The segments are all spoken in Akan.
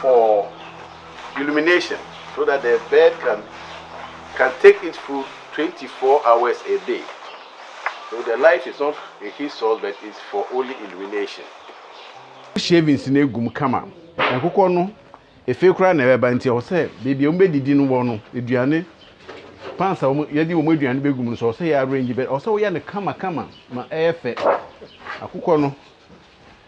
for illumination so that the bird can can take its food twenty four hours a day so the light is not a heat source but it's for only illumination. shavings no egu mu kama nkokɔ no efe koraa na ɛbɛba nti ɛwɔ sɛ baabi a wɔn bɛdidi no wɔ no aduane pans a wɔn yɛde wɔn aduane bɛgu mu no so ɛwɔ sɛ yɛ arrange bɛ ɛwɔ sɛ woyɛ no kama kama ma ɛyɛ fɛ akokɔ no.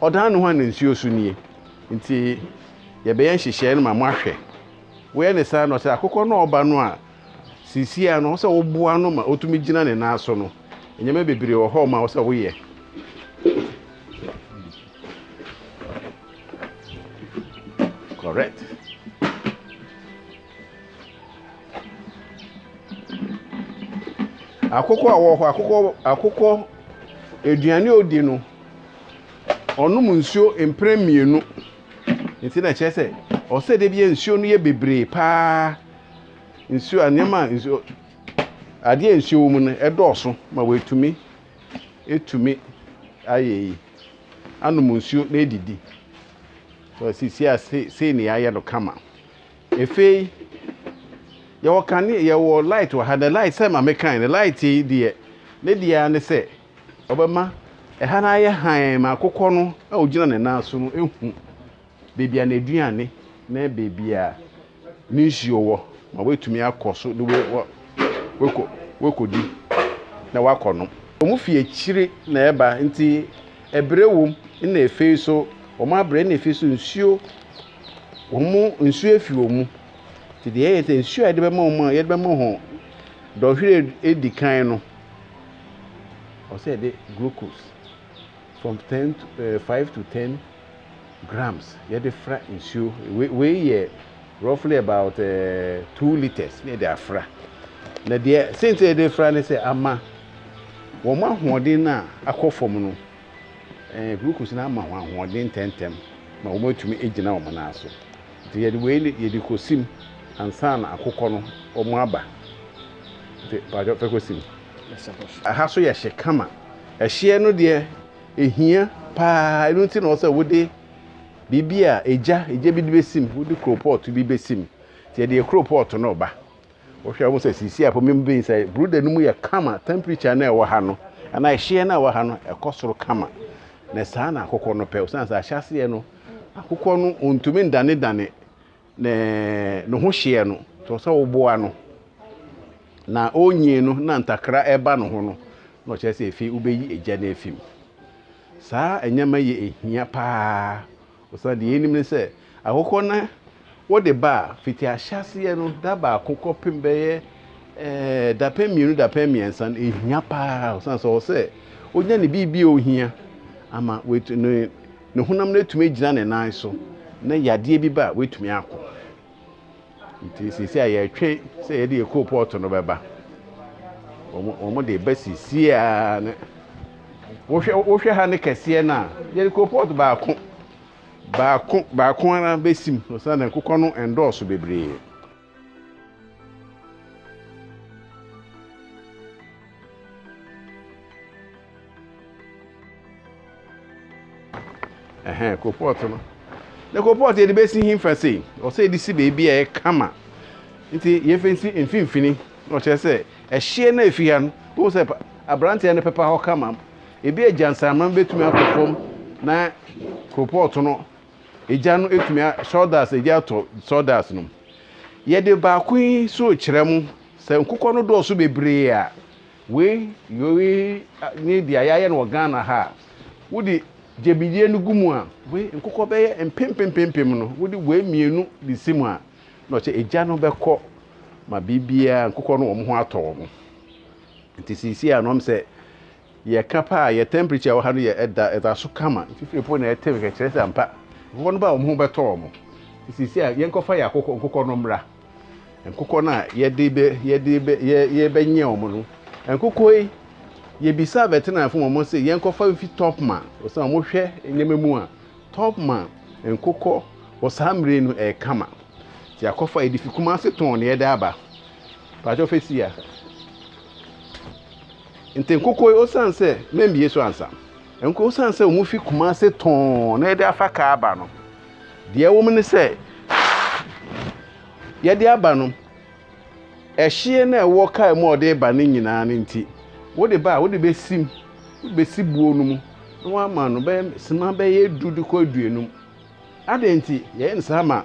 Ɔdan ne ho ana nsuo so nie? Nti yɛbɛyɛ nhyehyɛɛ no ma moahwɛ. Woyɛ ne saa na ɔsɛ akokɔ no a ɔba no a seisiea no ɔsɛ woboa no ma ɔtumi gyina ne nan so no. Nneɛma bebree wɔ hɔ ma ɔsɛ woyɛ. Correct. Akokɔ a ɔwɔ hɔ, akokɔ akokɔ aduane a ɔdi no, ɔnom nsuo mprɛ mmienu. Nti na ɛkyerɛ sɛ ɔsɛ da biara nsuo no yɛ bebree pa ara. Nsuo a nneɛma a nsuo adeɛ a nsuo wɔ mu no dɔɔso ma wɔatumi atumi ayɛ yi anom nsuo na adidi. Sisi a sei sei na yɛayɛ no kama. Afei yɛwɔ kanea yɛwɔ light wɔ ha na light sɛ ma me kan no light yi deɛ ne deɛ ara ne sɛ ɔbɛma ɛha no ayɛ hann ma akokɔ no a ɔgyina ne nan so no ehu baabi a n'aduane ne baabi a ne nsuo wɔ ma wɔatumi akɔ so de wɔkɔ wɔkɔdi na wɔakɔ nom. Wɔn fi akyire na ɛba nti ɛbrɛ wom na afei so wɔn abrɛ na afei so nsuo Wɔn mu nsuo afiri wɔn mu. Nti deɛ ɛyɛ ne sɛ nsuo a yɛde bɛma wɔn a yɛde bɛma wɔn dɔnhwere adi kan no, ɛwɔ sɛ yɛde glucose from ten to ɛɛ eh, five to ten grams yɛde fra nsuo wei wei yɛ roughly about ɛɛ eh, two litres na yɛde afra na deɛ sɛnti yɛde fra ne sɛ ama wɔn ahoɔden no a akɔ fam no. Glucose no ama wɔn ahoɔden ntɛmntɛm ma wɔatumi agyina wɔn nan so. Nti yɛde wei ne yɛde kɔsim ansa na akokɔ no wɔn aba. Nti paatwɔ fɛ kɔsim. Aha so yɛ hye kama. Ɛhyeɛ no deɛ ɛhia paa ɛno nti na ɔwɔ sɛ wode biribi a egya egya bi de bɛsim wode koropɔɔto bi bɛsim. Nti yɛde yɛ koropɔɔto no reba Wohwɛ a wohu sɛ seesei a po mem bɛn sɛ Brooder no mu yɛ kama, temperature no a ɛwɔ ha no anaa ɛhyeɛ no a ɛwɔ ha no ɛkɔ soro kama. Na saa na akokɔ no pɛ. Osiane sɛ ahyɛaseɛ no akokɔ no ɔntumi ndanedane ne ne ho hyeɛ no, nti ɔsɛ woboa no. Na ɔrenyin no na ntakra ɛba ne ho no na ɔkyerɛ sɛ ɛfei wobɛyi egya no afi mu. Saa nneɛma yi ɛhia paa. Osian deɛ yɛnim ne sɛ, akokɔ na wɔde ba a, fiti ahyɛaseɛ no, da baako kɔpem bɛyɛ dapɛn mmienu, dapɛn mmiɛnsa no, ɛhia pa ara osian sɛ ɔwɔ sɛ ɔnya ne biribi a ɔhia ama ne honam no atumi agyina ne nan so na yadeɛ bi ba a, watumi ako. nti sisi a yɛtwe sɛ yɛde yɛ coal pot no bɛba wɔn wɔn de ba sisi a ne wohwɛ wohwɛ ha ne kɛseɛ no a yɛde coal pot baako baako baako ara bɛsim so sɛ ne nkokɔ no ndɔɔso bebree. ɛhɛn kopɔt no na kopɔt yɛde bɛsi he fa sei ɔsɛ yɛde si baabi a ɛkama nti yɛfɛ si mfimfini na ɔkyerɛ sɛ ɛhyeɛ no ɛfi ha no wohu sɛ aberanteɛ no pepa hɔ kama ebi agya nsanama bɛtumi akɔ fam na kopɔt no egya no tumi a sawdust egya atɔ sawdust no. Yɛde baako yi nso rekyerɛ mo sɛ nkokɔ no dɔɔso bebree a wei wei ne deɛ yɛayɛ no wɔ Ghana ha a wode gyebidie no gu mu a wei nkokɔ bɛyɛ mpempempempem no wode wei mmienu de si mu a na ɔkyɛ egya no bɛkɔ ma biribiara nkokɔ no wɔn ho atɔ wɔn nti sisi a nom sɛ Yɛka pɛ a, yɛ tɛmprekyɛ a ɛwɔ ha no yɛ da, ɛda so kama. Mfifire mpo na ɛtew hwɛ, kyerɛ sɛ ampa, nkokɔ no ba a wɔn ho bɛtɔ wɔn. Nti seesei a, yɛnkɔfa yɛn akokɔ, nkokɔ no mmra. Nkokɔ no a yɛde bɛ, yɛde bɛ, yɛ, yɛbɛnyɛ wɔn no, nkokɔ yi, yebisaa veterinariafo ma wɔn se yɛnkɔfa mfi Topma, osiane wɔn hwɛ nneɛma mu a, Topma nkokɔ wɔ saa mmere yi no ɛyɛ kama. Nti yɛakɔfa, yɛde fi Kumasi tɔn na yɛde aba. Pakyɛ ɔfɛ si a. Ntɛ nkokɔ yi osiane sɛ mambue so ansa, nko osiane sɛ wɔfi Kumase tɔnn na yɛde afa kaa aba no, deɛ ɛwɔ mu ne sɛ, yɛde aba no, ɛhyeɛ no a ɛwɔ kaa mu a ɔde reba no nyinaa no nti, wode ba a, wode bɛsim, wode bɛsi buo no mu na woama no bɛyɛ sima bɛyɛ du de kɔ aduonum. Adɛn nti yɛyɛ no saa ma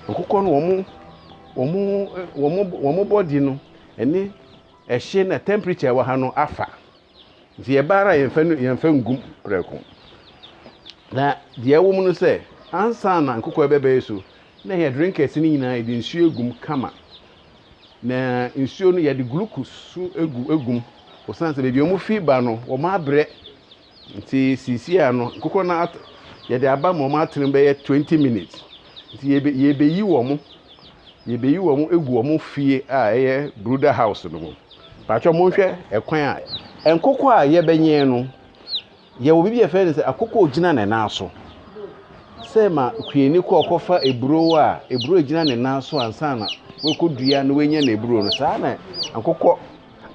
nkokɔ no wɔn wɔn wɔn wɔn bɔde no ɛne Ɛhye na temperature a ɛwɔ ha no afa, nti yɛba ara a yɛmfa no yɛmfa ngu prɛko. Na deɛ ɛwɔ mu no sɛ, ansa na nkokɔ bɛbɛyɛ so, na yɛ drinkers no nyinaa yɛde nsuo agum kama. Na nsuo no yɛde glucose so agu agum, osiane sɛ baabi a wɔfi ba no, wɔabrɛ Nti seesei a no nkokɔ no at yɛde aba ma wɔn atene bɛyɛ twenty minutes. Nti yɛbe yɛbeyi wɔn yɛbeyi wɔn egu wɔn fie a ɛyɛ brooder house no mu. Paatwa monhwɛ ɛkwan a nkokɔ a yɛbɛnyɛn no yɛwɔ biribi yɛfrɛ no sɛ akokɔ a ogyina ne nan so. Sɛ ma kueni kɔ ɔkɔfa eburow a eburow gyina ne nan so ansa na wakɔdua na wanya n'aburow no saa na nkokɔ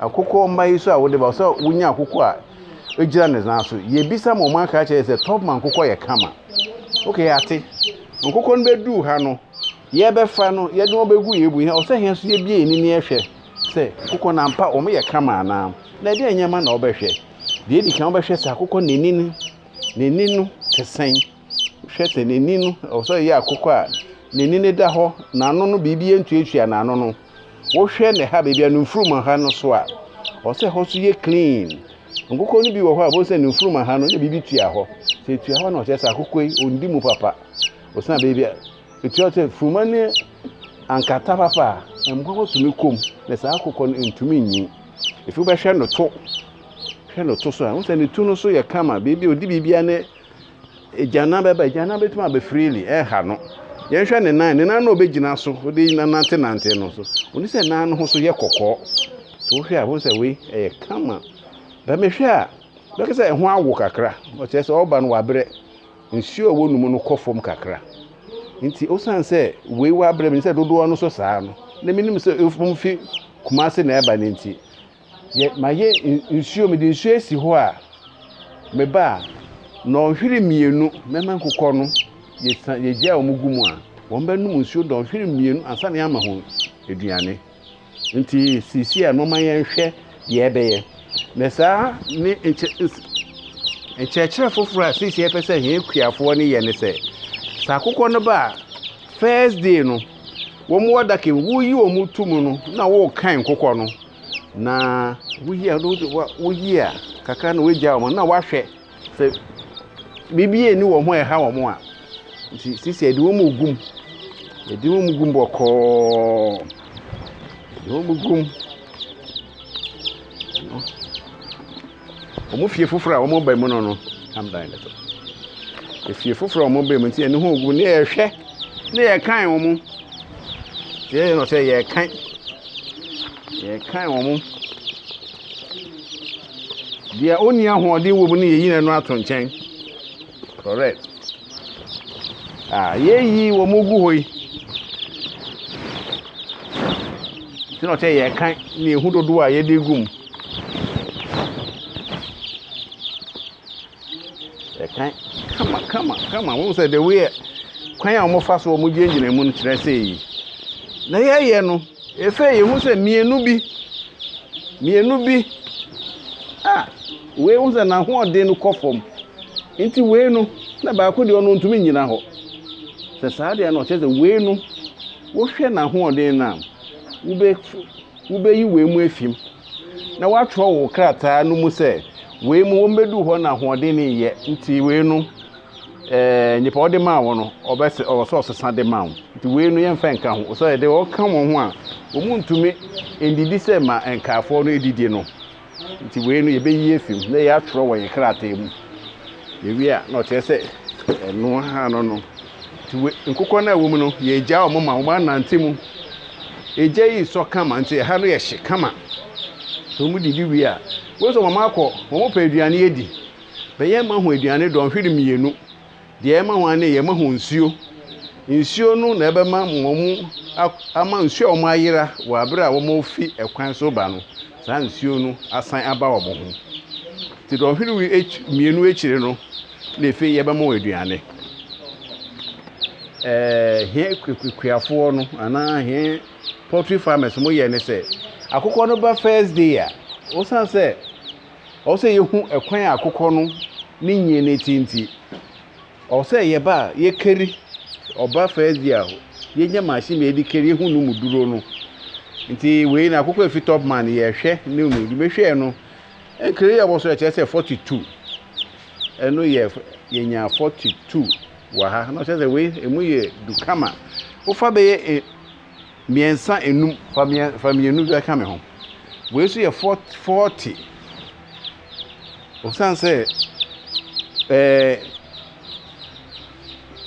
Akokɔ mma yi so a wode ba, ɔsɛ sɛ wonya akokɔ a egyina ne nan so. Yɛbisa ma wɔaka akyerɛ yɛn sɛ Tubman nkokɔ yɛ kama. Ok, yɛate. Nkokɔ no bɛduu ha no, yɛbɛfa no, yɛde wɔn bɛgu yɛn bu. Ɔsɛ yɛn nso yɛbie yɛn ani na yɛhwɛ sɛ nkokɔ no ampa wɔyɛ kama anaa. Na ɛdeɛn nneɛma na wobɛhwɛ? Deɛ ɛdi kan wobɛhwɛ sɛ akokɔ no n'ani no, n'ani no te sɛn. hwɛ sɛ n'ani no, ɛwɔ sɛ ɔyɛ akokɔ a n'ani no da hɔ, n'ano no biribi ntuatua n'ano no. Wohwɛ ne ha baabi a ne mfurum ha no so a, ɛwɔ sɛ ɛhɔ nso yɛ clean. Nkokɔ no bi wɔ hɔ a, ɛwɔ sɛ ne mfurum ha no na biribi tua hɔ. Sɛ etua hɔ na ɔkyerɛ sɛ akokɔ yi ɔndi mu papa. Ɔsan baabi a etua sɛ furuma ne ankata papa a, mmoa bɛtumi kɔ mu na saa akokɔ no ntumi nyi. Efi wobɛhwɛ ne to, hwɛ ne to so a, wohu sɛ ne tu no so yɛ kama, biribi ɔdi biribiara ne Agyanna bɛba, agyanna bɛtumi abɛ freely, ɛha no. Yɛnhwɛ ne nan, ne nan na ɔbɛgyina so, wode nanante nante no so. Wone sɛ nan no ho so yɛ kɔkɔɔ. To wohwɛ a, wohu sɛ wei ɛyɛ kama. Bɛ mehwɛ a, bɛka sɛ ɛho awo kakra. Ɔkyerɛ sɛ ɔba no wabrɛ. Nsuo a ɛwɔ ne mu no kɔ fam kakra. Nti osiane sɛ wei wabrɛ, menim sɛ dodoɔ no nso saa no, na menim sɛ ɛfiri Kumasi na ɛba no nti, Yɛ mayɛ nsuo mede nsuo asi hɔ a meba a nnɔnhwere mmienu mɛma nkokɔ no yɛ san yɛ gya a wɔn gu mu a wɔn bɛ nom nsuo dɔnhwere mmienu ansa na yɛ ama wɔn aduane nti sisi a moma yɛn hwɛ deɛ ɛbɛyɛ na saa ne nkyɛ nkyerɛkyerɛ foforɔ a sisi yɛ pɛ sɛ yɛn kuafoɔ ne yɛ ne sɛ saa akokɔ no ba a first day no. wɔn wɔ adaka mu, woyi wɔn to mu no na wokan kokɔ no. Na woyi a woyi a kakra na woagya wɔn na woahwɛ sɛ biribi ani wɔn ho a ɛha wɔn a. Nti sisi a ɛde wɔn mu gum. Ɛde wɔn mu gum bɔkɔɔ. Ɛde wɔn mu gum. Wɔn fie foforɔ a wɔn ba mu no no tam dan ne so. Efie foforɔ a wɔn ba mu nti yɛn ho gu ne yɛhwɛ ne yɛkan wɔn. Yɛyɛ no sɛ yɛkan yɛkan wɔn. Deɛ ɔnni ahoɔden wɔ mu no yɛyi n'ano ato nkyɛn. Correct. Ah, yeyi wɔn mu gu hɔ yi. Nti na ɔkyɛ yɛ kan ne ehu dodoɔ a yɛde gu mu. Ɛkan kama kama kama wɔn sɛ the way kwan a wɔfa so wɔn gyinagyina mu no kyerɛ sɛ yi. Na yɛyɛ no efe yɛn ho sɛ mmienu bi mmienu bi a. Ah, Wei wohu sɛ n'ahoɔden no kɔ fam. Nti wei no na baako deɛ ɔno ɔntumi nnyina hɔ. Sɛ saa deɛ no ɔkyerɛ sɛ wei no wohwɛ n'ahoɔden no a wobɛ wobɛyi wei mu afi mu na woatwerɛ wo krataa no mu sɛ wei mu wɔmmɛduu hɔ na ahoɔden no nyɛ nti wei no ɛɛ nipa ɔde maa wɔn no ɔbɛ ɔwɔ sɛ ɔsesa de maa wɔn nti wei no yɛmfa nka ho sɛ ɛde ɔka wɔn ho a wɔn ntumi ndidi sɛ ma nkaafoɔ no edidi no Nti wei no yɛbɛyi afi mu na yɛatwerɛ wɔ yɛn krataa mu. Yɛwie a na ɔkyerɛ sɛ ɛno ara no no. Nti wei nkokɔ no a ɛwɔ mu no yɛgya wɔn ma wɔn anante mu. Egya yi sɔ kama nti ɛha no yɛ hye kama. Sɛ wɔn didi wie a, wohu sɛ wɔn akɔ wɔn pɛ aduane adi. Bɛyɛ mma ho aduane dɔnhwere mmienu. Deɛ ɛma hɔn ne yɛma hɔn nsuo. Nsuo no na ɛbɛma wɔn ama nsuo a wɔayera wɔ abere a wɔrefi ɛkwan so reba no, saa nsuo no asan aba wɔn ho. Nti dɔnhwere akyi mmienu akyire no na afei yɛbɛma wɔn aduane. Ɛɛ hɛn kuafoɔ no anaa hɛn poultry farmers mo yɛ ne sɛ, akokɔ no ba first day a, osiane sɛ. Ɔwɔ sɛ yɛhu ɛkwan a akokɔ no ne nyie no te nti, ɔwɔ sɛ yɛba a yɛkari ɔba fɛɛdzi a yɛnya machine bi a yɛde kari yɛhu no mu duro no. Nti wei no akokɔ a ɛfi top man no yɛhwɛ ne mu de mehwɛɛ no nkari a wɔsɔ ɛkyerɛ sɛ 42 ɛno yɛ yɛnya 42 wɔ ha na ɔkyerɛ sɛ wei ɛmu yɛ du kama wofa bɛyɛ Mmiɛnsa nnum, fa mmiɛ fa mmienu bi ka me ho. Wei nso yɛ fɔt fɔɔte. Osiane sɛ ɛɛ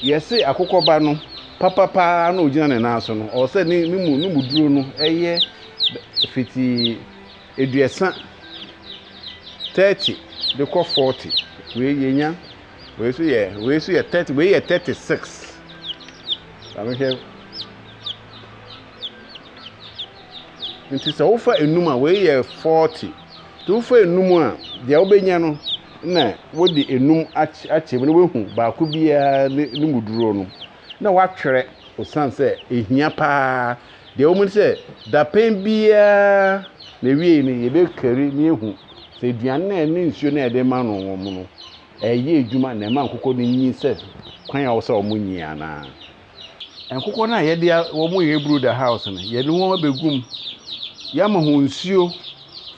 yɛse akokɔba no papa paa na ogyina ne nan so no, ɔwɔ sɛ ne ne mu ne mu duro no ɛyɛ fitii aduasa, thirty de kɔ forty. Wei yɛnya. Wei so yɛ wei so yɛ thirty wei yɛ thirty six. Maame hwɛ. Nti sɛ wofa enum a wei yɛ forty. Nti wofa enum a deɛ wobɛnya no na wode enum akyɛ mu na woahu baako biara ne ne mu duro no na woatwerɛ osiane sɛ ehia paa Deɛ ɛwɔ mu ne sɛ, dapɛn biara n'awiei no, yɛbɛkari na yɛahu sɛ aduane no a ne nsuo no a yɛde rema no wɔn no, ɛreyɛ adwuma na ɛma nkokɔ no nyin sɛ kwan a ɛwɔ sɛ wɔnyin anaa. Nkokɔ no a yɛde a wɔyɛ brooder house no, yɛde wɔn abɛgu mu, yɛama wɔn nsuo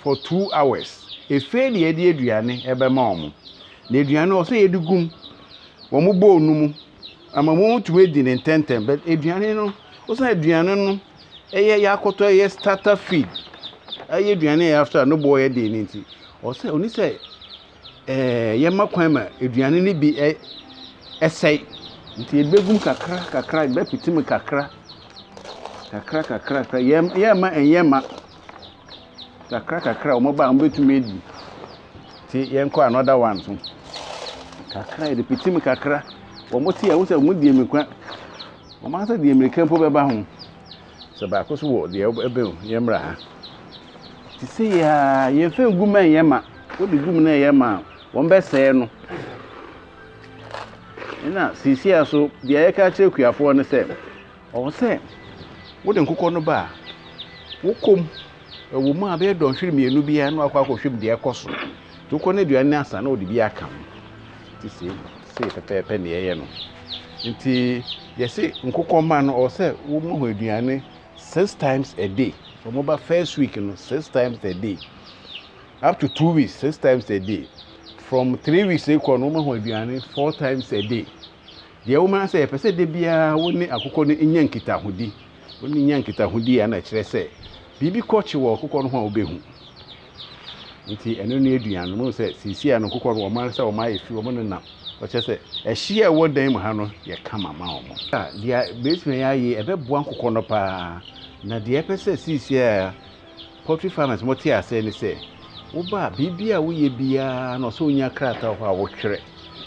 for two hours. Afei na yɛde aduane bɛma wɔn. Na aduane no, ɛwɔ sɛ yɛde gu wɔn bowl no mu Ama wɔatumi adi no ntɛntɛm but aduane no osiane aduane no ɛyɛ yɛakɔtɔ ɛyɛ starter feed ɛyɛ aduane a after no boɔ yɛ den no nti ɔsɛ ɔni sɛ ɛɛ yɛma kwan ma aduane no bi ɛ ɛsɛe nti ebegum kakra kakra ebɛpete mu kakra kakra kakra kakra yɛma ɛnyɛ ma. Kakra kakra a wɔn ba a wɔn bɛtumi adi ti yɛn kɔ another one so kakra yɛde piti mu kakra wɔn ti a wɔn sɛ wɔn di mirika wɔn ankasa di mirika mpo bɛba ho sɛ baako so wɔ deɛ ɛbɛn o yɛn mmerɛ ha te sɛ yɛa yɛn fɛn gu mɛn yɛn ma wɔde gu mu na yɛn ma wɔn bɛsɛɛ no ɛna sisi a so deɛ yɛka kyerɛ kuafoɔ no sɛ. Ɔwɔ sɛ wode nkokɔ no ba a, wokɔ mu, ɛwɔ mu a bɛyɛ dɔnhwere mmienu biara na wakɔ akɔhwɛ mu deɛ ɛkɔ so. Nti wokɔ no aduane no asa na wode bi aka ho. Nti sei sei pɛpɛɛpɛ na yɛyɛ no. Nti yɛse nkokɔ mma no ɔwɔ sɛ woma ho aduane six times a day. So wɔba first week no six times a day up to two weeks six times a day from three weeks rekɔ no woma ho aduane four times a day. Deɛ ɛwom ara ne sɛ, yɛpɛ sɛ da biara wo ne akokɔ no nya nkitahodi. Wo ne no nya nkitahodi a, na ɛkyerɛ sɛ biribi kɔ kye wɔ akokɔ no ho a wobɛhu. Nti ɛno ne aduan no. Mohu sɛ seesei a no nkokɔ no wɔn ankasa wɔn ayɛ fi, wɔnenam. Wɔkyerɛ sɛ ɛhyeɛ a ɛwɔ dan mu ha no yɛ kama ma wɔn. Deɛ bɛtumi ayɛ, ɛbɛboa nkokɔ no pa ara. Na deɛ yɛpɛ sɛ seesei a. Poultry farmers mo te aseɛ ne sɛ wo ba biribi a woyɛ biara no ɔsɛ onya krataa wɔ hɔ a wotwerɛ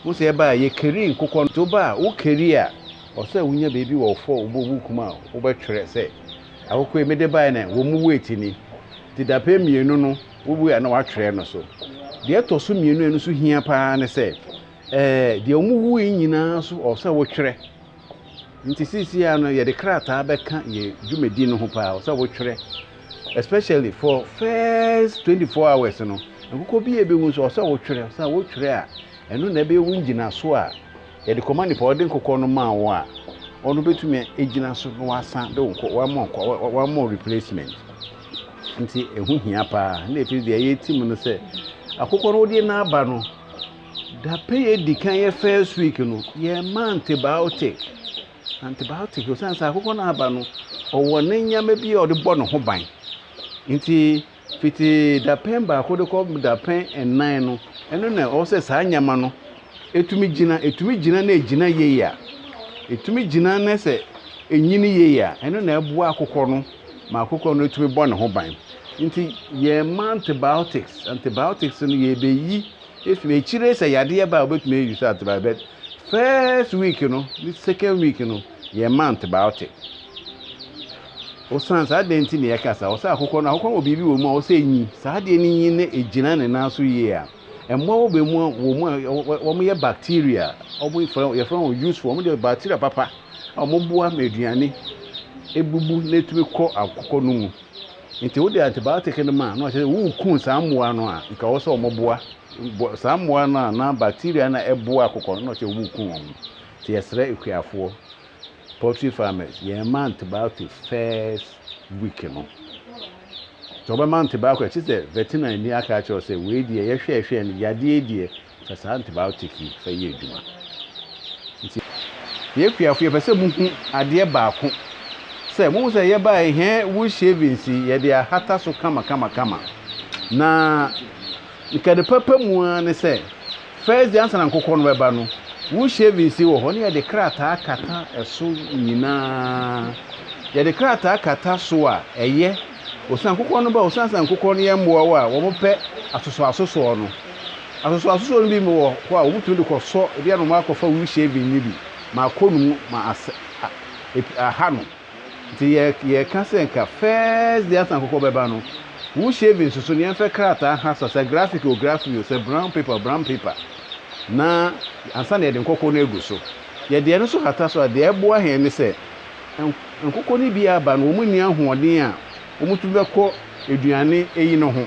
wo sɛ ɛba a yɛ keri nkokɔ nti wo ba a wo keri a ɔsɛ wonya baabi wɔ wo fɔ wobɔ wo kum a wobɛtwerɛ sɛ akokɔ yi mede baɛ na wɔ mu weight ni nti dapɛn mmienu no wo wei a na watwerɛ no so deɛ ɛtɔ so mmienu a ɛno nso hia paa ne sɛ ɛɛ deɛ wɔn wui nyinaa nso ɔsɛ wotwerɛ. Nti seisiaa no yɛde krataa bɛka yɛ dwumadi no ho paa sɛ wotwerɛ especially for first 24 hours no nkokɔ bi a ɛbɛwu nso ɔsɛ wotwerɛ sɛ wotwerɛ a ɛno na ɛbɛyɛ wo ngyinaso a yɛde kɔma nipa ɔde nkokɔ no maa wo a ɔno bɛtumi agyina so na wasan de wo wama wama replacement nti ɛho hia paa na ɛfiri deɛ yɛtim no sɛ akokɔ no wodeɛ n'aba no Dapɛn a edi kan yɛ first week no yɛma antibiotic antibiotic osiane sɛ akokɔ no aba no ɔwɔ ne nneɛma bi a ɔde bɔ ne ho ban nti fiti dapɛn baako de kɔ dapɛn nnan no ɛno na ɔwɔ sɛ saa nneɛma no etumi gyina etumi gyina na egyina yie a etumi gyina na sɛ enyini yie a ɛno na ɛboa akokɔ no ma akokɔ no etumi bɔ ne ho ban nti yɛma antibiotics antibiotics no yɛbɛyi Afei akyire sɛ yadeɛ ba a wobɛtumi ayi so atrae but first week no ne second week no yɛn ma antibiotic ɔsan saa dɛn ti na yɛka saa ɔsɛ akokɔ no akokɔ wɔ biribi wɔ mu a ɔsɛ nyi saa deɛ no nyi na ɛgyina ne nan so yie a mmoa wɔ bɛ mu a wɔ mu a wɔn yɛ bacteria wɔn yɛfrɛ yɛfrɛ wɔn useful wɔn deɛ bacteria papa a wɔn boa ma aduane ebubu na etumi kɔ akokɔ no mu. Nti wode antibiotic no ma no a, kyerɛ sɛ worekum saa mmoa no a nka ɛwɔ sɛ wɔboa bɔ saa mmoa no a na bacteria no a ɛboa akokɔ no na ɔkyerɛ worekum wɔn. Nti yɛsrɛ akuafoɔ, poultry farmers, yɛn mma antibiotics first week no. Sɛ wobɛma antibiotics a, kyerɛ sɛ veterinary ni aka akyerɛ wo sɛ wei deɛ yɛhwɛɛhwɛɛ no yadeɛ yi deɛ Sɛ saa antibiotic yi fa yɛ adwuma nti. Yɛn akuafo yɛpɛ sɛ mo hu adeɛ baako sɛ mo hu sɛ yɛ baa hɛn wool shavings yi yɛde ahata so kama kama kama na nka ne papa mu ara ne sɛ first day ansa na nkokɔ no bɛba no wool shavings yi wɔ hɔ ne yɛde krataa kata ɛso nyinaa yɛde krataa kata so a ɛyɛ Osian kokɔ no ba osian sɛ nkokɔ no yɛ mbowa a wɔpɛ asosɔasosɔɔ no. Asosɔasosɔɔ no bi wɔ hɔ a wɔtumi de kɔsɔ, bi a na wɔakɔfa wool shaving no bi ma akɔ no mu ma asɛ a epi aha no. Ntsi yɛ yɛreka sɛ nka first day ansa nkokɔ bɛba no, wool shaving so so na yɛmfa krataa ha sɔ, sɛ graphic o graphic o, sɛ brown paper o brown paper, na ansa na yɛde nkokɔ no egu so. Yɛde ɛno so hata so a, dza ɛboa hɛn nye sɛ Nkokɔ no bi aba no, wɔnni ahoɔden a wɔtumi bɛkɔ aduane eyi no ho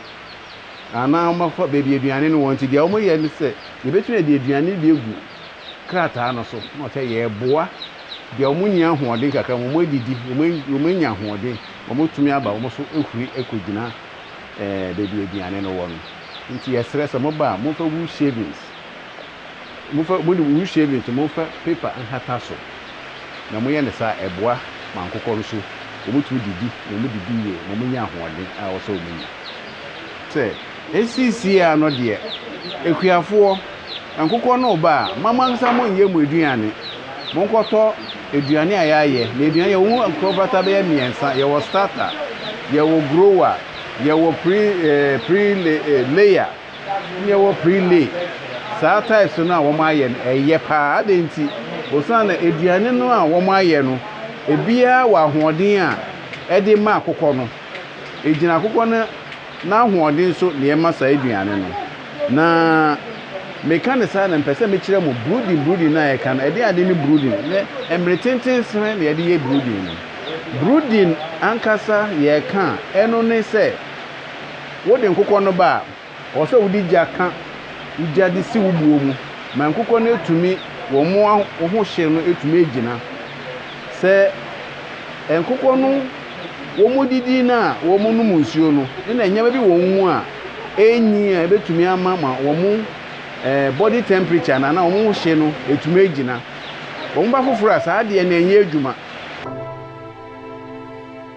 anaa wɔakɔ baabi aduane no wɔ nti, deɛ wɔyɛ ne sɛ, yɛbɛtumi de aduane no bi agu krataa no so na ɔkyɛ yɛreboa deɛ wɔnni ahoɔden kakra ma wɔadidi, wɔanya ahoɔden ma wɔatumi aba wɔn so ahuri akɔgyina baabi aduane no wɔ no. Nti yɛsrɛ sɛ moba a, momfa wool shavings. Momfa, mo de mo wisie no nti, momfa paper nhata so, na monyɛ no saa a, ɛboa ma nkokɔ nso, wɔtumi didi, na wɔdidi yie ma wɔnya ahoɔden a ɛwɔ sɛ wɔnya. Sɛ. Seesei ara no deɛ, akuafoɔ, nkokɔ no reba a, mma mo ankasa monyɛ mo aduane. Monkɔtɔ aduane a yɛayɛ, na aduane, yɛwɔ ho nkorabata bɛyɛ mmiɛnsa, yɛwɔ starter, yɛwɔ grower, yɛwɔ pre, eh, pre, eh, layer. Nea ɛwɔ Prix Lee, saa tiles no a wɔayɛ no, ɛyɛ paa. Adɛn nti? Osian dɛ eduane no a wɔayɛ no, biara wɔ ahoɔden a ɛde ma akokɔ no. Egyina akokɔ no n'ahoɔden so na yɛma saa eduane no. Na meka no saa na mepɛ sɛ mekyerɛ mo brooding brooding no a yɛka no, ɛde ade ne brooding. Nɛ mmere tenten sɛn na yɛde yɛ brooding no? Brooding ankasa yɛka a, ɛno ne sɛ, Wode nkokɔ no ba a, ɔwɔ sɛ wode gya ka wo gya de si wo buo mu ma nkokɔ no atumi wɔn ho hye no atumi agyina. Sɛ nkokɔ no wɔdidi no a wɔnom nsuo no ne na nneɛma bi wɔ wɔn mu a ɛnyi a ɛbɛtumi ama ma wɔn body temperature no anaa wɔn ho hye no atumi agyina. Wɔn ba foforɔ a saa adeɛ no ɛnyɛ adwuma.